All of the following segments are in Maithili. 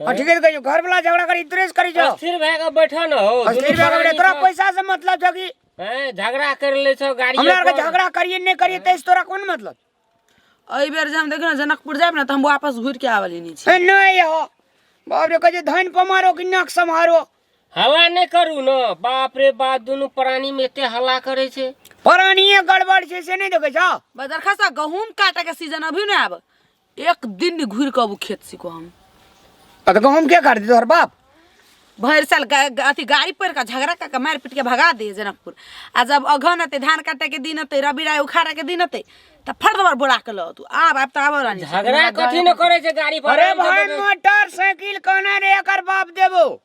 हाँ, ठीक है कहियो घर वाला झगड़ा करी इतरेस करी जो अस्थिर भए के बैठा न हो अस्थिर दुनू भए के बैठा, तोरा परानी पैसा से मतलब छौ कि छौ। हैं, झगड़ा कर ले छौ गाड़ी हमरा आरके झगड़ा करिए नहि करिए तैसे तोरा कोन मतलब एहि बेर जे हम देखियौ ने जनकपुर जायब ने तऽ हम वापस घुरि के आबऽ लेने छी ए, नहि हो बाप रे कहै छै धन पमारो कि नाक सम्हारो हवा नहि करू ने बाप रे बाप दुनू प्राणी में एते हल्ला करे छै परानिए गड़बड़ छै से नहि देखै छौ बदरखा सा गहूम काटे के सीजन अभी ने आब एक दिन नहीं घूर के अब खेत सीखो हम आ तो गहूम के काट दी तोहर बाप भर साल गा- गा- अथी गाड़ी पर का झगड़ा का के मार पीट के भगा दे जनकपुर आ जब अगहन अते धान काटे के दिन अते रबी राय उखाड़ा के दिन अते त फट दबर बोरा के लो तू आब आब त आब रानी झगड़ा कथी न करे छै गाड़ी पर अरे आबि जेबै। भाई मोटरसाइकिल कोना रे एकर बाप देबो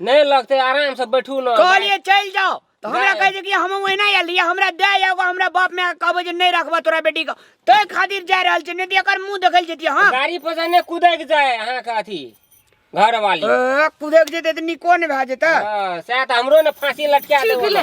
नहीं लगते आराम से बैठू ना कहलिए चल जाओ तो हमरा जाए। कह दे कि हम ओहिना आयल रहिए हमरा दे एगो हमरा बाप में कहबे जे नहीं रखबा तोरा बेटी के तै खातिर जा रहल छै नहीं तो एकर मुंह देखल जेतिए हां गाड़ी पर से नहीं कूदे के जाए अहाँ के अथी घर वाली ए, कुदेक जेते त निको ने भए जेते हाँ, सएह तऽ हमरो ने फाँसी लटका देबो ने।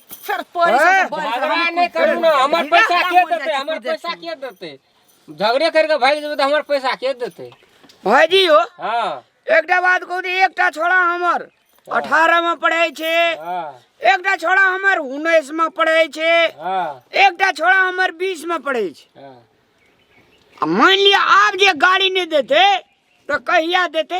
सर पड़ी हैं? सब बड़ी झगड़ा नहीं करू ना हमर पैसा के देते हमर पैसा के देते झगड़े करके भाग जेबै तऽ हमर पैसा के देते भाईजी हो हाँ एकटा बात कहू तऽ एकटा छोड़ा हमर अठारह में पढ़े छे हाँ एकटा छोड़ा हमर उन्नीस में पढ़े छे हाँ एकटा छोड़ा हमर बीस में पढ़े छे हाँ आ मान लिअ आब जे गाड़ी नहि देते तऽ कहिया देते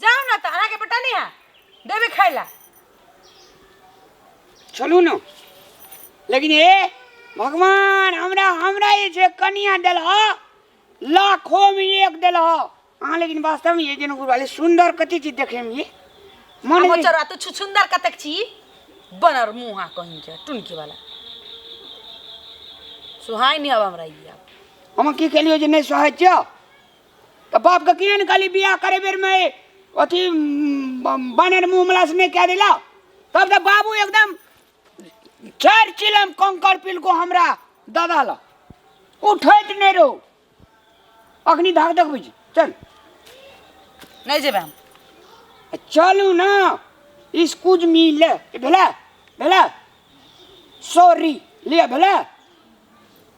जाओ ना तो अहाँ के बेटा नहीं है देवे खाए ला चलू ना लेकिन हे भगवान हमरा हमरा ये जे कनिया दिल हो लाखों में एक दिल हो अहाँ लेकिन वास्तव में ये जन गुरुवाले सुंदर कति चीज देखे में ये मन हम में- चरा तो छु सुंदर कतक छी बनर मुहा कहीं के टुनकी वाला सुहाई नहीं अब हमरा ई अब हम की कहलियो जे नहीं सहज छो तऽ बापके किए ने कहली बियाह करे बेरमे अथी बानर मुँह मलास नहि कए देला तब तऽ बाबू एकदम चारि चिलम कंकर पिलको हमरा दादा लऽ उठैत नहि रहू अखनी धाक देखबै छी चल नहि जेबै हम चलू ने इसकुज मिल भेलै भेलै सॉरी लिअ भेलै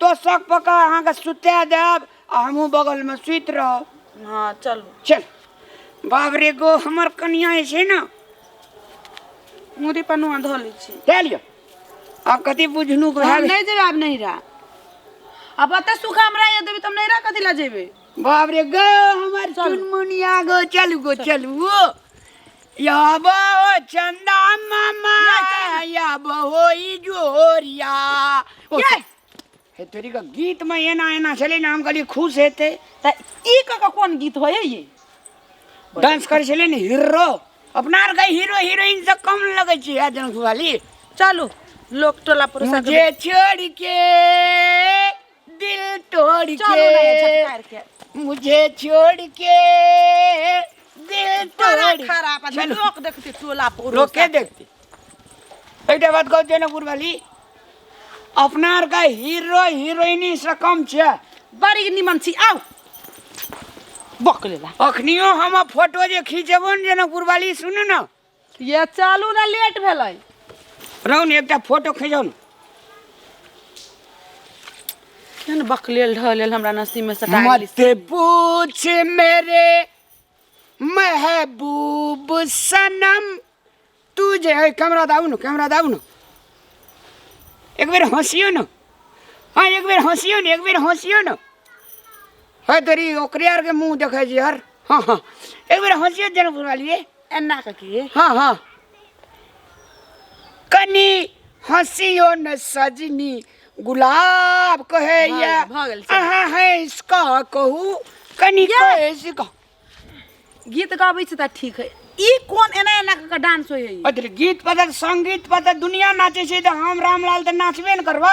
तोसक पकड़ अहाँके सुता देब आ हमहूँ बगलमे सुति रहब हँ चलू चल बाप रे गो हमर कनिया जे छै ने मुड़ी पनुआ धो लै छी दए लिअ आब कथी बुझनु हम भए नहि जेबै आब नैहरा आब एते सुख हमरा ये देबै तऽ हम नैहरा कथी लए जेबै बाप रे गो हमर चुनमुनिया गो चलू गो चलू ओ अब हो चंदा मामा अब हो ई जोरिया ये हे तोरी का गीत में एना एना चले ना हम कहली खुश हेते त ई क क कोन गीत होय ये डांस करे चले ने हीरो अपना आर के हीरो हीरोइन से कम लगे छी आज वाली चलू लोक टोला पर मुझे छोड़ के दिल तोड़ के मुझे छोड़ के दिल तोड़ खराब आदमी चलो। लोग देखते टोला पर लोग के देखते एकटा बात कहू जनकपुर वाली अपना आर का हीरो हीरोइनी से कम छै बड़ी निमन छी आउ बक लेला अखनियो हम फोटो जे खींचबो ने जनकपुर वाली सुनू ने ये चलू ने लेट भेलै रहू ने एकटा फोटो खींचो ने केहन बकलेल ढहलेल हमरा नसीब में सटा गेली मत पूछ मेरे महबूब सनम तू जे है कैमरा दाऊ न कैमरा दाऊ न एक बेर हंसियो न हाँ एक बेर हंसियो न एक बेर हंसियो न है तेरी ओकरे आर के मुंह देखे जी यार हाँ हाँ एक बेर हंसियो जनपुर वाली रे एना कऽ के हाँ हाँ कनी हंसियो न सजनी गुलाब कहे भऽ या गेल, भऽ गेल, चल। अहाँ है इसका कहू कनी या। कहे इसका गीत गाबै छै तऽ ठीक है ई कोन एना एना कऽ के डांस होइ है ई? अरे गीत पता संगीत पता दुनिया नाचे छै तऽ हम रामलाल तऽ नाचबे ने करबा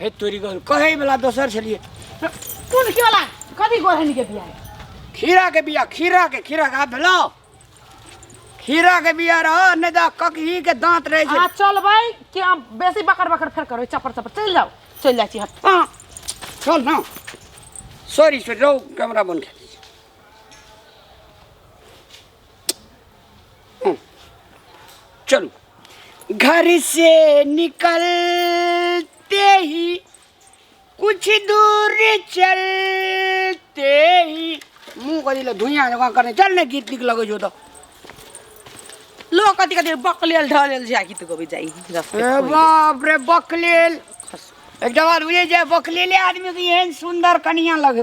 हे तोरी गल कहे वाला दोसर छलिए कोन के वाला कथी गोरहनी के बियाह खीरा के बिया खीरा के खीरा का भेलो खीरा के बिया रह नहीं तो ककही के दांत रहे आ छै चलबै कि हम बेसी बकर बकर फेर करबै चपर चपर चलि जाउ चलि जाइ छी हम हाँ, चल ना सॉरी सॉरी रहो कैमरा बन के चलू घर से निकलते ही कुछ दूर चलते ही मुंह कथी ला धुइयाँ जकाँ करने चल ने गीत नीक लगै छौ तऽ लोग कथी कथी बकलेल ढलेल जा गीत गबै जाइ रस्ते ए खोइ। बाप रे बकलेल एक जवान बुझे जे बकलेले आदमी के एहन सुंदर कनिया लगे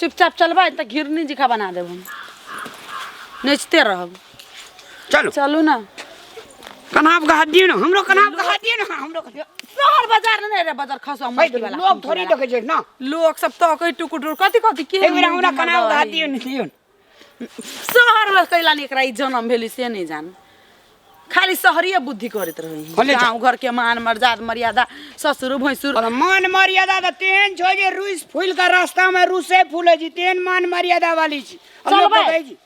चुपचाप चलबै तऽ घिरनी जिका बना देब हम नचते रहब चलू चलू ने कनाब कहा दियो ना हमरो कनाब कहा दियो ना हमरो कहा दियो। शहर बाजार ने रे बाजार खसो हम भाई, वाला लोग थोड़ी देखे छै ना लोग सब तो कई टुकुर टुकुर कथी कथी के एक बेर हमरा कनाब कहा दियो ना दियो ना। शहर में कैला नहीं एकरा ई जन्म भेली से नहीं जान खाली शहरीय बुद्धि करत रही होने जा। गाँव घर के मान मर्यादा मर्यादा ससुर भैंसुर और मान मर्यादा तो तेहन छो जे रूस फूल का रास्ता में रूसे फूले जी तेहन मान मर्यादा वाली छी हम चल लोग भाई। कहै छी।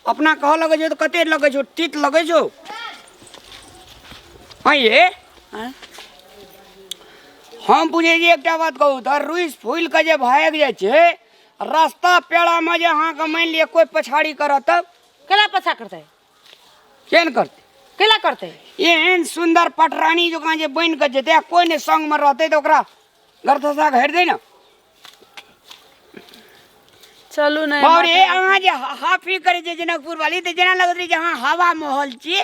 अपना कह लगे जो तो कते लगे जो तीत लगे जो हाँ ये आँय? हम बुझे जी एकटा बात कहू तो रूस फूल के जे भाग जाय छे रास्ता पेड़ामे जे अहाँके मानि लिअ कोइ पछाड़ी करत तब केना पछा करतै केन करतै केना करतै एहन सुन्दर पटरानी जकाँ जे बनि कऽ जेतै आ कोइ नहि सङ्गमे रहतै तऽ ओकरा गरथसा घेर दै ने चलू ने बाबरे अहाँ जे हा- हाफी करै छियै जनकपुर वाली तऽ जेना लगैत रहै जे अहाँ हवा माहौल छियै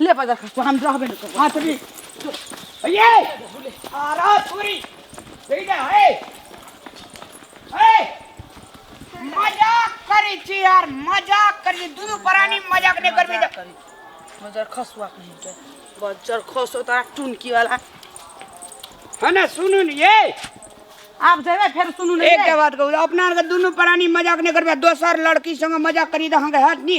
ले बजा खा हम रहबे न करब हां चली अये आरा छोरी देखि जा हे हे मजा करी छी यार मजा करी दुनु प्राणी मजा करी करबे जा मजा खसुआ कहीं के बजर खसो तारा टुनकी वाला है ना सुनू न ये आप जेबे फिर सुनू नहीं एक के बात कहू अपना आर के दुनू प्राणी मजाक नहीं करबे दोसर लड़की संग मजाक करी त अहाँ के हैत नी